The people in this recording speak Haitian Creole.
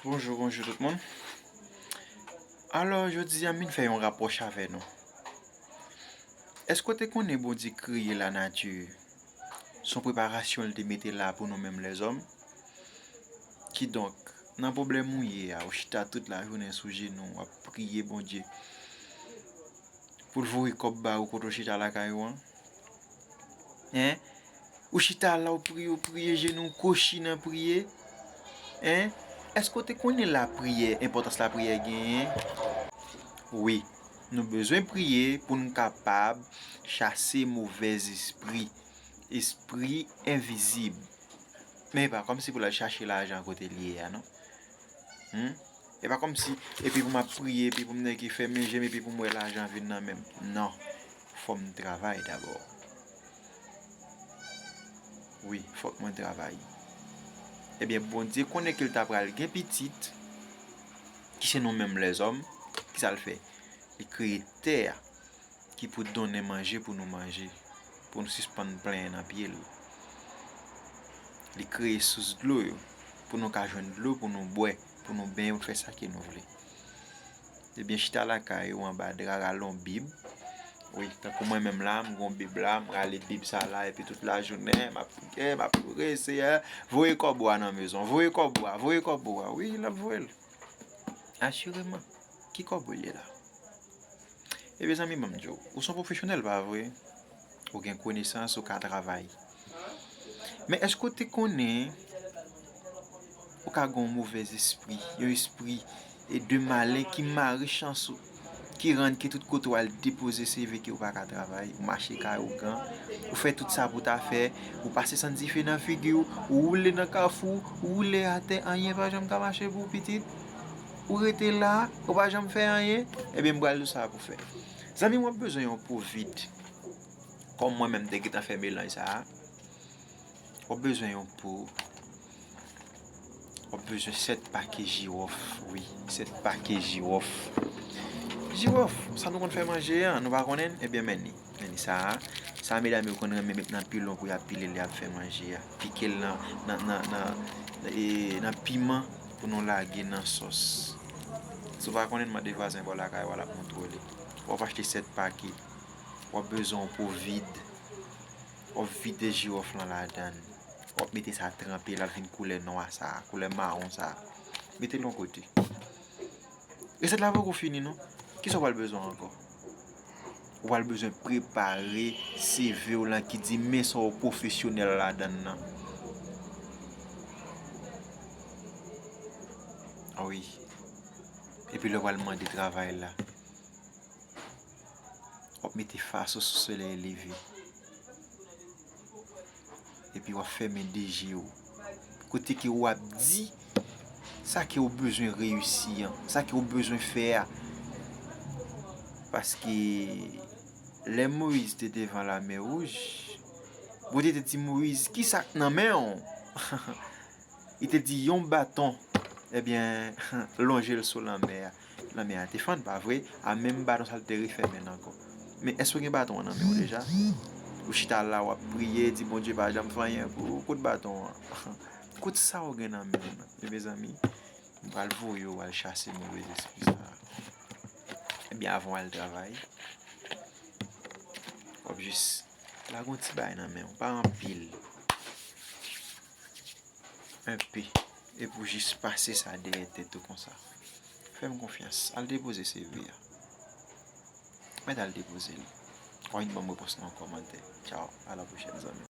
Bonjou bonjou tout moun Alò jodi a m vin fè yon rapwòch avè nou Èske w te konnen Bondye kreye lanati s on preparasyon l te mete la pou nou menm lèzòm Kidonk, nan pwoblèm ou ye a, ou chita tout lajounen sou jenou w, w ap priye Bondye pou l voye kòb ba ou kote w chita lakay ou an Hein Ou chita la ou priye ou priye jenou w kochi nan priye Hein Èske ou te konnen lapriyè enpòtans lapriyè genyen Wi Nou bezwen priye pou n kapab chase movèzespri Espri envizib Men e pa kòmsi pou l al chache lajan kote l ye a non Humm E pa kòmsi epi pou m ap priye epi pou m nèke fèmen je m epi pou m wè lajan vin nan men m Non Fòm travay dabò wi fòk mwen travay ebyen bondye konnen kel ta pral gen pitit ki se nou menm lèzòm kisal fè li kreye tè a ki pou donnen manje pou nou manje pou nou sispann plenyen nan pyel li kreye sous dlo yo pou nou ka jwenn dlo pou nou bwè pou nou benyen pou nou fè sa ke nou vle. Ebyen chita lakay ou anba dra rale yon bib Wi tankou mwen menm la m gon bib la m rale bib sa la epi tout lajounen m ap priye m ap ore Seyè voye kòb ou a nan mezon voye kòb ou a voye kòb ou a Wi l ap voye l asireman Ki kòb ou li la? E mezanmi ban m di w ou s on pwofesyonèl pa vre? Ou gen konesans, ou ka travay. Men èske ou te konnen ou ka gen yon movèz espri, yon espri e de malen ki mare chans ou, ki rann ke tout kote ou al depoze CV ke ou pa ka travay, ou mache kay ou gan, ou fè tout sa pou ta fè, ou pase sant dife nan figi ou, ou woule nan kafou, ou woule atè, anyen pa janm ka mache pou ou pitit, ou rete la, ou pa janm fè anyen, ebyen m pral di w sa pou fè. Zanmim wap bezwen yon pou vid Kom mwen menm te gentan fè melanj sa Wap bezwen yon pou Wap bezwen 7 pake jirof wi 7 pake jirof Jirof sa nou konn fè manje an nou pa konnen ebyen men li men li sa Sa medam yo konn renmen met nan pilon pou yap pile lè yap fè manje a pikel nan nan nan nan nan piman. pou nou lage nan sòs. Si w pa konnen mande vwazen bò lakay w a l ap montre w li. Wap achte 7 pake, wap bezwen yon po vid, wap vide jiwòf lan ladan, wap mete sa tranpe l ap vin koulè nwa sa, koulè mawon sa. Mete l yon kote. Resèt la poko fini non, kisa w pral bezwen ankò? Ou pral bezwen prepare CV w lan ki di men sa w pwofesyonèl ladan nan. Wi. Epi lè w pral mande travay la, w ap mete fas ou sou solèy leve. epi wap fèmen de je ou. Kote ke ou ap di, sa ke ou bezwen reyisi an, sa ke ou bezwen fè a. Paske, lè Moïse te devan la mè wouj, Bondye te di Moïse, ki sa k nan men ou? Li te di, yon baton, ebyen, lonje l sou la mè a. Lanmè a te fann, pa vre? A menm baton sa l te refè men l ankò. Men, èske w gen baton an nan men w deja? Ou chita la, w ap priye, di Bondye pa janm fè anyen pou ou, kout baton an. Kout sa ou gen nan men w nan. Men, mezanmi, m pral voye w al chase move lespri sa a. Ebyen, avan w al travay, w ap jis lage yon ti bagay nan men w, pa anpil. Enpi, e pou jis pase sa dèyè tèt ou konsa? Fè m konfyans, al depoze CV a. Mèt al depoze li. W'ap vin ban m repons nan kòmantè. Tchaw, a la pwochèn zanmi m.